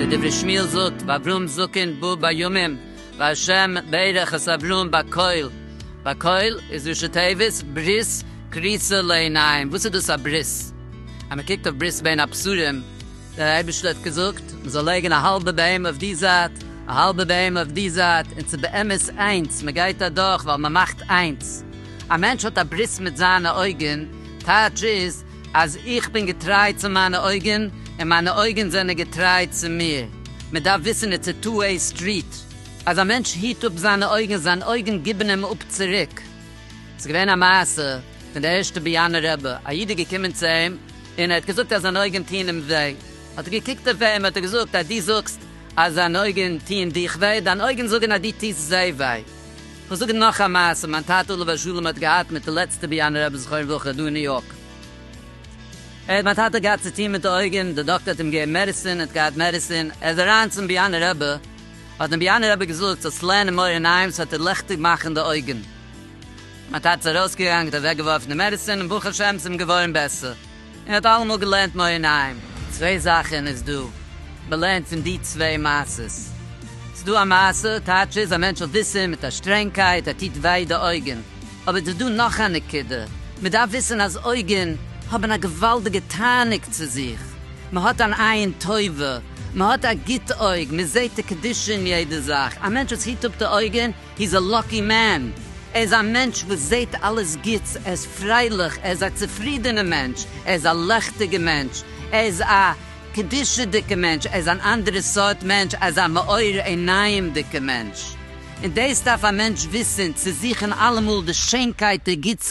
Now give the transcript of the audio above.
ווי דברי שמואל זאגט, ואברהם זקן בא בימים, והשם ברך את אברהם בקהל, בקהל איז ראשי תיבות ברית כריסה לעיניים, וואס איז דאס א ברית? אז מען קוקט אויף ברית בין הבשרים, דער אייבערשטער האט געזאגט מען זאל לייגן א האלבע בהמה אויף די זייט א האלבע בהמה אויף די זייט און ס'איז באמת איינס מען גייט אדורך ווייל מען מאכט איינס א מענטש האט א ברית מיט זיינע אויגן טייטש איז אז איך בין געטריי צו מיינע אויגן און מיינע אויגן זענען געטריי צו מיר מען דארף וויסן איטס א טו וועי סטריט אז א מענטש היט אפ זיינע אויגן זיין אויגן גיבן אים אפ צוריק ס'איז געווען א מעשה פון די ערשטע באיאנע רבי א איד איז געקומען צו אים. און ער האט געזאגט אז זיינע אויגן טוען אים וויי, האט ער געקוקט אויף אים, האט ער געזאגט אז דו זאגסט אז זיינע אויגן טוען דיך וויי, דיינע אויגן זאגן אז דו טוסט זיי וויי. איך וועל זאגן נאך א מעשה, מיין טאטע עליו השלום האט געהאט מיט די לעצטע ביאנער רבי זכרון לברכה דא אין ניו יארק, האט מיין טאטע געהאט צו טון מיט די אויגן, דער דאקטער האט אים געגעבן מעדיסין, ער האט געהאט מעדיסין, ער איז אריין צום ביאנער רבי, האט אים ביאנער רבי געזאגט זאלסט לערנען מאור עיניים, ס'וועט דיר ליכטיג מאכן די אויגן. מ'האט הארץ ארויסגעראנגט, אוועקגעווארפן די מעדיסין, און ברוך השם ס'אים געווארן בעסער. ער האט אלעמאל געלערנט מור אין היים. צוויי זאכן איז דא מ'לערנט פון די צוויי מעשות. ס'דא א מעשה, טייטש איז, א מענטש האט וויסען מיט א שטרענגקייט ער טוט וויי די אויגן. אבער ס'איז דא נאך א נקודה, מ'דארף וויסען אז אויגן האבן א געוואלדיגע תענוג צו זיך. מ'האט אן עין טובה, מ'האט א גוט אויג, מ'זעהט די קדושה אין יעדע זאך. א מענטש וואס היט אפ די אויגן, היז א לאקי מען, ער איז א מענטש וואס זעהט אלעס גוטס, ער איז פרייליך, ער איז א צופרידענע מענטש, ער איז א לעכטיגע מענטש, ער איז א קדושה'דיגע מענטש, ער איז אן אנדערע סארט מענטש, ער איז א מאור עינים'דיגע מענטש, און דאס דארף א מענטש וויסען, צו זוכען אלעמאל די שיינקייט, די גוטס.